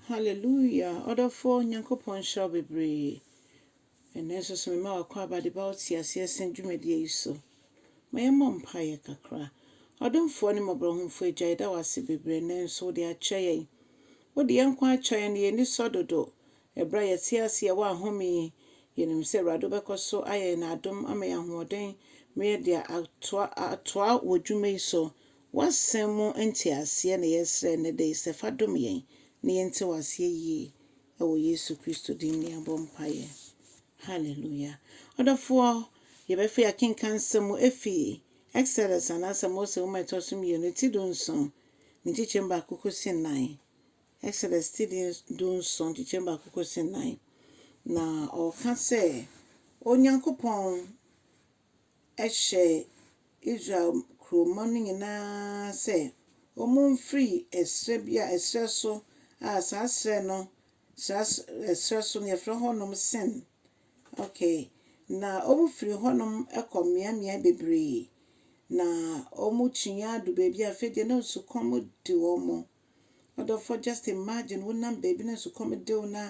Hallelujah ɔdɔfoɔ Nyankopɔn nhyira wo bebree ɛnɛ nso so mema w'akwaaba de ba wo te aseɛ sen dwumadie yi so ma yɛmmɔ mpaeɛ kakra ɔdomfoɔ ne mmɔborɔhumfoɔ agya yɛda wo ase bebree ɛnɛ nso wode akyɛ yɛn wode yɛn nkwa akyɛ yɛn ne yɛn ani sɔ dodo ɛberɛ a yɛte ase yɛwɔ ahome yi yɛnim sɛ awurade wobɛkɔ so ayɛ yɛn adom ama yɛn ahoɔden ma yɛde atoa atoa wɔ dwuma yi so W'asɛm mu nteaseɛ na yɛsrɛ nnɛ da yi sɛ fa dom yɛn na yɛnte w'aseɛ yie ɛwɔ Yesu Kristo din mu yɛabɔ mpaeɛ. Hallelujah. Ɔdɔfoɔ, yɛbɛfei akenkan nsɛm mu ɛfi Exodus anaasɛ Mose nwoma ɛtɔ so mmienu ti du nson ne nkyekyɛm baako kɔsi nnan. Exodus ti di du nson nkyekyɛm baako kɔsi nnan. Na ɔɔka sɛ Onyankopɔn hyɛɛ Israel kurowmma no nyinaa sɛ wɔmfiri ɛserɛ bi a, ɛserɛ so a saa serɛ no, saa ɛserɛ so no, wɔfrɛ hɔnom Sin. Okay, na wɔfirii hɔnom kɔɔ mmeammea bebree, na wɔkyiaa aduu baabi a afei deɛ na osukɔm de wɔn. Ɔdɔfoɔ just imagine wo nam baabi na nsukɔm de wo na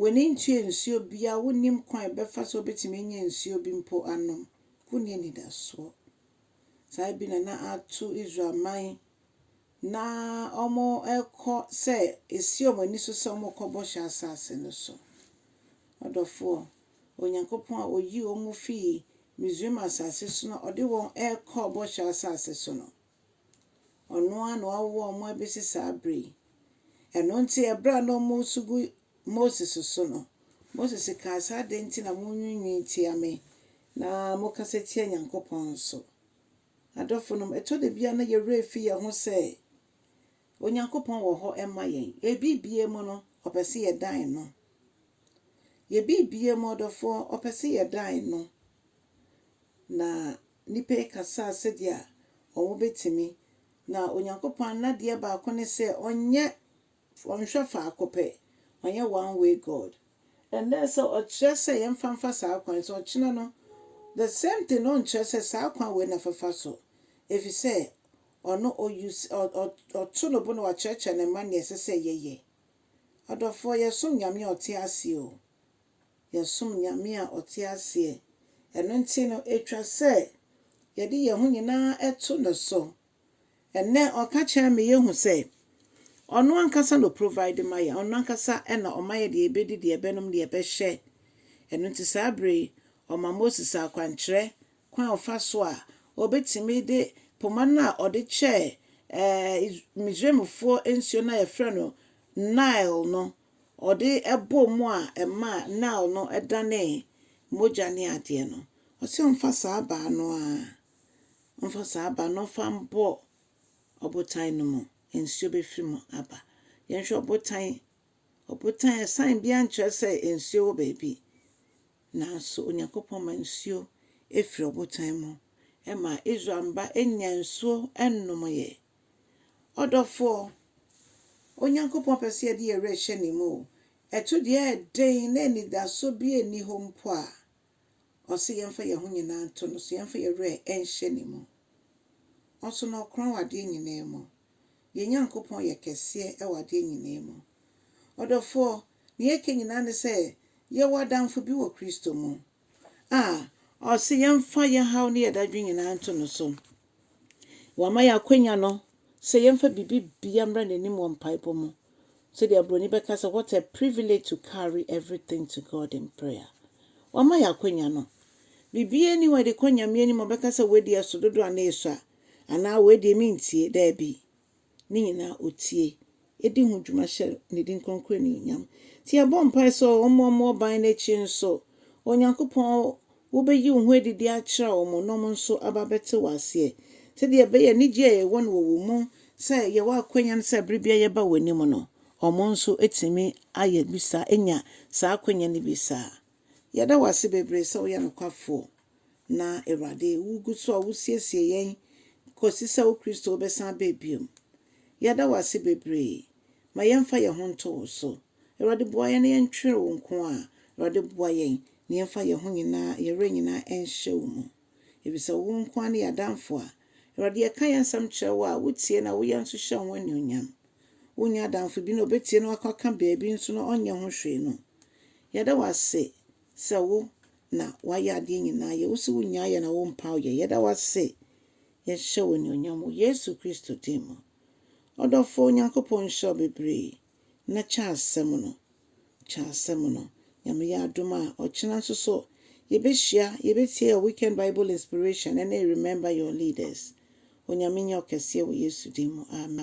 w'ani ntua nsuo biara wo nnim kwan a ɛbɛfa so wobɛtumi anya nsuo bi mpo anom wo nni anidasoɔ saa bi na na ato Israel man na wɔkɔ sɛ ɛsi wɔn ani so sɛ wɔkɔ bɔhyɛ asase no so ɔdɔfoɔ Onyankopɔn a ɔyi wɔn fii Misraim asase so na ɔde wɔn ɛkɔ bɔhyɛ asase so no Ɔno ara na wawo wɔn abɛsi saa berɛ yi. Ɛno nti, berɛ a na wɔresu gu Moses so no, Moses kaa sɛ, Adɛn nti na monwiinwii tia me na mokasa tia Onyankopɔn nso? Adɔfonom, ɛtɔ da bi a na yɛn werɛ refi yɛn ho sɛ Onyankopɔn wɔ hɔ ma yɛn. Yɛn biribiara mu no, ɔpɛ sɛ yɛdan no. Yɛn biribiara mu ɔdɔfoɔ, ɔpɛ sɛ yɛdan no. Na Nnipa yi kasaa sɛdeɛ wɔbɛtumi, na Onyankopɔn n'adeɛ baako ne sɛ ɔnyɛ, ɔnhwɛ faako pɛ, ɔnyɛ one way God. Ɛnnɛ sɛ ɔkyerɛ sɛ yɛmfa mfa saa kwan yi so, ɔkyena no the same thing na ɔnkyerɛ sɛ saa kwan wei na fafa so, ɛfiri sɛ ɔno ɔ use, ɔ, ɔ, ɔto no bo na wakyerɛkyerɛ ne mma nea ɛsɛ sɛ yɛyɛ. Adɔfoɔ, yɛsom Nyame a ɔte aseɛ o. Yɛsom Nyame a ɔte aseɛ, ɛno nti no ɛtwa sɛ yɛde yɛn ho nyinaa to ne so. Ɛnnɛ ɔka kyerɛ me yɛhu sɛ ɔno ankasa na ɔprovide ma yɛn, ɔno ankasa na ɔma yɛ deɛ yɛbɛdi, deɛ yɛbɛnom, deɛ yɛbɛhyɛ. Ɛno nti saa berɛ yi ɔma Moses akwankyerɛ kwan a ɔfa so a ɔbɛtumi de poma no a ɔde kyɛɛ Misraimfoɔ nsuo no a yɛfrɛ no Nile no ɔde bɔɔ mu a ɛmaa Nile no danee mogya ne adeɛ no, ɔse ɔmfa saa abaa no ara, ɔmfa saa abaa no ɔmfa mbɔ ɔbotan no mu, nsuo bɛfiri mu aba. Yɛnhwɛ ɔbotan, ɔbotan sign biara nkyerɛ sɛ nsuo wɔ baabi, nanso Onyankopɔn ma nsuo firi ɔbotan mu, ɛma Israel mma nyaa nsuo nomeeɛ. Ɔdɔfoɔ, Onyankopɔn pɛ sɛ yɛde yɛn werɛ hyɛ Ne mu o, ɛto deɛ ɛyɛ den na anidasoɔ biara nni hɔ mpo a, Ɔse yɛmfa yɛn ho nyinaa nto No so, yɛmfa yɛn werɛ nhyɛ Ne mu. Ɔso na Ɔkorɔn wɔ adeɛ nyinaa mu. Yɛn Nyankopɔn yɛ kɛseɛ wɔ adeɛ nyinaa mu. Ɔdɔfoɔ, deɛ ɛka nyinaa ne sɛ yɛwɔ adamfo bi wɔ Kristo mu. a ɔse yɛmfa yɛn haw ne yɛn dadwen nyinaa nto no so. Wama yɛn akwanya no sɛ yɛmfa biribi bia mmra n'anim wɔ mpaebɔ mu. Sɛdeɛ Broni bɛka sɛ what a privilege to carry everything to God in prayer. Wama yɛn akwanya no. Biribiara ni hɔ a yɛde kɔ Nyame anim a ɔbɛka sɛ wei deɛ ɛso dodo anaa ɛsua anaa wei deɛ mentie. Daabi. ne nyinaa otie edi ho dwuma hyɛ ne din kronkron anuonyam. Nti yɛbɔ mpae sɛ wɔmmɔ mo ɔban no akyi nso. O Nyankopɔn, wobeyi wo ho adidi akyerɛ wɔn na wɔn nso aba abɛte wo aseɛ, sɛdeɛ ɛbɛyɛ anigyeɛ a yɛwɔ no wɔ wo mu sɛ yɛwɔ akwanya no sɛ bere biara yɛba w'anim no, wɔn nso atumi ayɛ bi saa, anya saa akwanya no bi saa. Yɛda wo ase bebree sɛ woyɛ nokwafoɔ. Na, Awurade, wugu so a wusiesie yɛn kosi sɛ wo Kristo bɛsan aba bio. Yɛda wo ase bebree. Ma yɛmfa yɛn ho nto wo so. Awurade, boa yɛn na yɛntwere wo nko ara. Awurade, boa yɛn na yɛmfa yɛn ho nyinaa, yɛn werɛ nyinaa nhyɛ wo mu. Efisɛ wo nko ara ne yɛn Adamfo a, Awurade, yɛka yɛn nsɛm kyerɛ wo a, wutie na woyɛ nso hyɛ wo ho anuonyam. Wunni adamfo bi na obetie na wakɔ aka baabi nso na ɔnyɛ ho hwee no. Yɛda wo ase Sɛ wo na wayɛ adeɛ nyinaa yɛ, wo se wo nyaa yɛ na wo mpaw yɛ, yɛda wo ase, yɛ hyɛ wo anuonyam wɔ Yesu Kristo din mu. Ɔdɔfoɔ, Onyankopɔn nhyira wo bebree, na kyɛ asɛm no, kyɛ asɛm no. Nyame yɛ adom a, ɔkyena nso so, yɛbɛhyia, yɛbɛtie yɛ weekend Bible inspiration ne Remember Your Leaders. Onyame nyɛ ɔkɛseɛ wɔ Yesu din mu, amen.